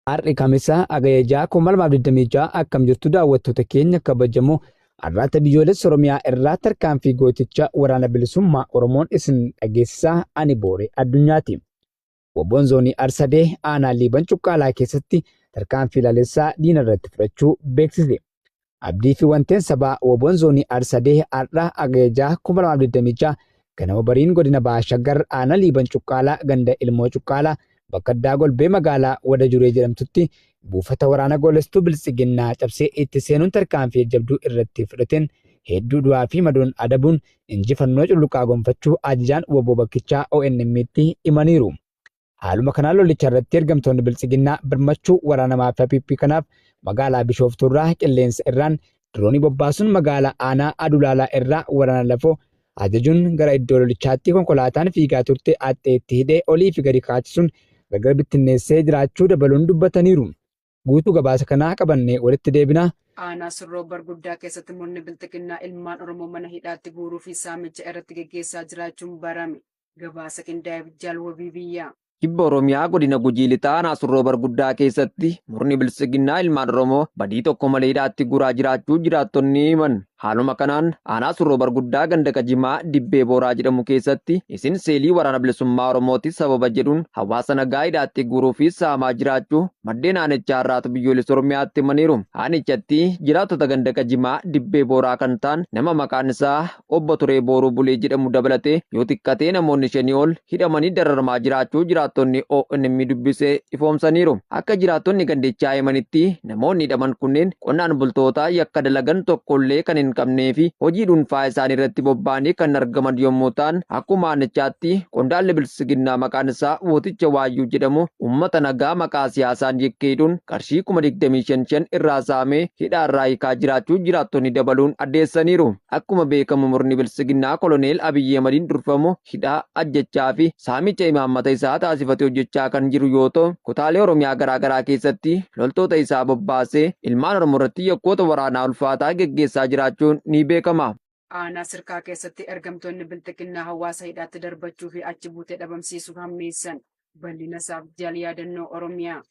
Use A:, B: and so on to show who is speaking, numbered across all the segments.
A: Har'i Kamisa Agaya 6,2026 akkam jirtu daawwattoota keenya kabajamoo arraata biyyoolessa Oromiyaa irraa tarkaanfii gooticha waraana bilisummaa Oromoon isin dhageessisaa ani booree addunyaati. Wobboon zoonii Arsadee aanaa Liiban Cuqqaalaa keessatti tarkaanfii laalessaa diina irratti fudhachuu beeksise. Abdii fi wanteen sabaa Woboon Zoonii Arsadee Har'a Agaya 6 2026 ganama bariin godina Baha Shaggar aanaa Liiban Cuqqaalaa ganda Ilmoo Cuqqaalaa bakka addaa golbee magaalaa Wada Juree jedhamtutti buufata waraana goolestuu biltsiginnaa cabsee itti seenuun tarkaanfii jajjabduu irratti fudhateen hedduu du'aa fi madoon adabuun injifannoo culluqaa gonfachuu ajajaan woboo bakkichaa ONM'tti himaniiru. Haaluma kanaan lolicha irratti ergamtoonni biltsiginnaa birmachuu waraana maafiyaa PP kanaaf magaalaa Bishooftuu irraa qilleensa irraan diroonii bobbaasuun magaalaa aanaa Adulaalaa irraa waraana lafoo ajajuun gara iddoo lolichaatti konkolaataan fiigaa turte axxeetti hidhee olii fi gadi kaachisuun gargar bittinneessee jiraachuu dabaluun dubbataniiru. Guutuu gabaasa kanaa qabannee walitti deebina. Aanaa Sirroo
B: Barguddaa keessatti murni Bilxiginnaa ilmaan Oromoo mana hidhaatti guuruu fi saamicha irratti geggeessaa jiraachuun barame. Gabaasa qindaa'eef Jaal Wabii Biyyaa. Kibba Oromiyaa
C: godina Gujii Lixaa aanaa Surroo Barguddaa keessatti murni Biltsiginnaa ilmaan Oromoo badii tokko malee hidhaatti guuraa jiraachuu jiraattonni himan. Haaluma kanaan aanaa Surroo Barguddaa ganda Qajimaa Dibbee Booraa jedhamu keessatti isin seelii waraana bilisummaa Oromooti sababa jedhuun hawaasa nagaa hidhaatti guuruu fi saamaa jiraachuu maddeen aanichaa irraatu biyyoolessa Oromiyaatti himaniiru. Aanichatti jiraattota ganda Qajimaa Dibbee Booraa kan ta'an nama maqaan isaa obbo Turee Booruu Bulee jedhamu dabalatee yoo xiqqatee namoonni shanii ol hidhamanii dararamaa jiraachuu jiraattonni ONM dubbise ifoomsaniiru. Akka jiraattonni gandichaa himanitti Namoonni hidhaman kunneen qonnaan bultootaa yakka dalagan tokkollee kan hin qabnee fi hojii dhuunfaa isaanii irratti bobba'anii kan argaman yommuu ta'an, akkuma aanichaatti qondaalli Biltsiginnaa maqaan isaa Wooticha Waayyuu jedhamu uummata nagaa maqaa siyaasaan yakkee hidhuun qarshii kuma digdamii shan shan irraa saamee hidhaarraa hiikaa jiraachuu jiraattonni dabaluun addeessaniiru. Akkuma beekamu murni Biltsiginnaa Koloneel Abiyyi Ahmadiin durfamu, hidhaa, ajjechaa fi saamicha imaammata isaa taasifate hojjechaa kan jiru yoo ta'u, kutaalee Oromiyaa garaa garaa keessatti loltoota isaa bobbaasee ilmaan Oromoo irratti yakkoota waraanaa ulfaataa geggeessaa jiraachuun ni beekama. Aanaa Sirkaa
B: keessatti ergamtoonni Bilxiginnaa hawaasa hidhaatti darbachuu fi achi buutee dhabamsiisuu hammeessan. Bal'ina isaaf Jaal Yaadannoo Oromiyaa.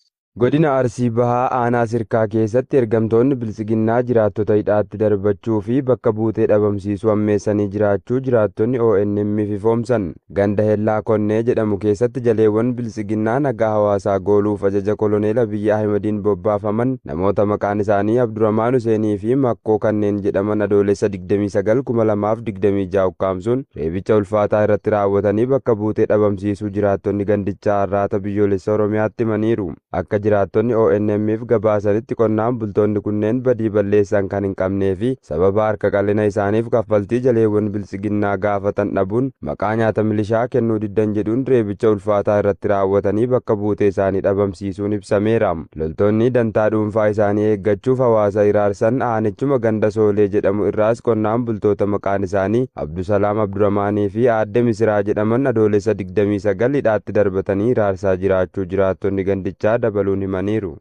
B: Godina Arsii
D: Bahaa Aanaa Sirkaa keessatti ergamtoonni Biltsiginnaa jiraattota hidhaatti darbachuu fi bakka buutee dhabamsiisuu hammeessanii jiraachuu jiraattonni ONM'f ifoomsan. Ganda Hellaa Konnee jedhamu keessatti jaleewwan Biltsiginnaa nagaa hawaasaa gooluuf ajaja Koloneel Abiyyi Ahimadiin bobbaafaman namoota maqaan isaanii Abduramaan Huseenii fi Makkoo kanneen jedhaman Adoolessa 29, 2026 ukkaamsuun reebicha ulfaataa irratti raawwatanii bakka buutee dhabamsiisuu jiraattonni gandichaa Arraata Biyyoolessa Oromiyaatti himaniiru. Akka jiraattonni ONM'f gabaasanitti qonnaan bultoonni kunneen badii balleessan kan hin qabnee fi sababa harka qal'ina isaaniif kaffaltii jaleewwan Biltsiginnaa gaafatan dhabuun maqaa nyaata milishaa kennuu diddan jedhuun reebicha ulfaataa irratti raawwatanii bakka buutee isaanii dhabamsiisuun ibsameera. Loltoonni dantaa dhuunfaa isaanii eeggachuuf hawaasa hiraarsan aanichuma ganda Soolee jedhamu irraas qonnaan bultoota maqaan isaanii Abdusalaam Abduramaanii fi aadde Misiraa jedhaman Adoolessa 29 hidhaatti darbatanii hiraarsaa jiraachuu jiraattonni gandichaa dabaluun himaniiru.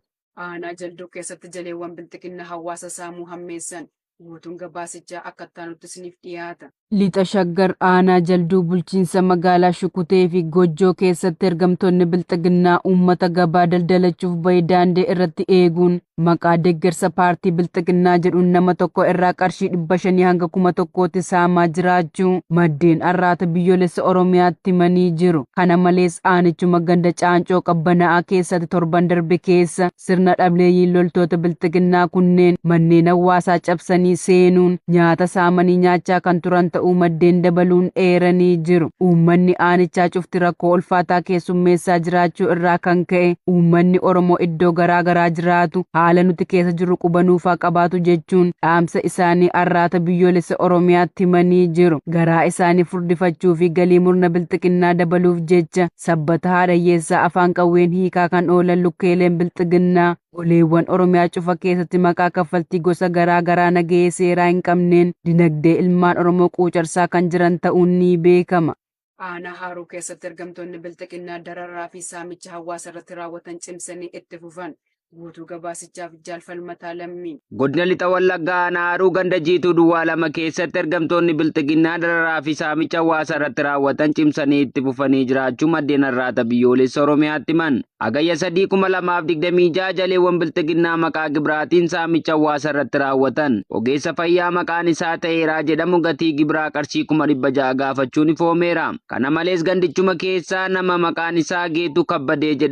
D: Aanaa Jalduu
B: keessatti jaleewwan Bilxiginnaa hawaasa saamuu hammeessan. Guutuun gabaasichaa akka ittaanutti isiniif dhiyaata. Lixa Shaggar
E: aanaa Jalduu bulchiinsa magaalaa Shukutee fi Gojjoo keessatti ergamtoonni Bilxiginnaa uummata gabaa daldalachuuf bahe daandii irratti eeguun maqaa deeggarsa paartii Bilxiginnaa jedhuun nama tokko irraa qarshii 500 hanga 1000tti saamaa jiraachuu maddeen Arraata Biyyoolessa Oromiyaatti himanii jiru. Kana malees aanichuma ganda Caancoo Qabbana'aa keessatti torban darbe keessa Sirna dhableeyyiin loltoota bilxiginnaa kunneen manneen hawwaasaa cabsanii seenuun nyaata saamanii nyaachaa kan turan ta'uu maddeen dabaluun eeranii jiru. Uummanni aanichaa cufti rakkoo ulfaataa keessummeessaa jiraachuu irraa kan ka'e uummanni Oromoo iddoo garaa garaa jiraatu haala nuti keessa jirru quba nuuf haa qabaatu jechuun dhaamsa isaanii Arraata Biyyoolessa Oromiyaatti himanii jiru. Garaa isaanii furdifachuu fi galii murna bilxiginnaa dabaluuf jecha Sabbata haadha hiyyeessaa afaan qawween hiikaa kan oolan lukkeeleen bilxiginnaa goleewwan Oromiyaa cufa keessatti maqaa kaffaltii gosa garaa garaa nagahee seeraa hin qabneen dinagdee ilmaan Oromoo quucarsaa kan jiran ta'uun ni beekama. Aanaa Haaruu
B: keessatti ergamtoonni bilxiginnaa dararaa fi saamicha hawaasa irratti raawwatan cimsanii itti fufan. Guutuu gabaasichaaf Jaal Falmataa Lammii. Godina Lixa Wallaggaa
F: Aanaa Haaruu ganda jiituu duwwaa lama keessatti ergamtoonni bilxiginnaa dararaa fi saamicha hawaasa irratti raawwatan cimsanii itti fufanii jiraachuu maddeen har'aata biyyoolessa Oromiyaatti himan. Hagayya 3,2026 jaleewwan bilxiginnaa maqaa gibiraatiin saamicha hawaasa irratti raawwatan ogeessa fayyaa maqaan isaa ta'eeraa jedhamu gatii gibiraa qarshii 600,000 gaafachuun ifoomeera. Kana malees gandichuma keessaa nama maqaan isaa Geetuu Kabbadee jedhamu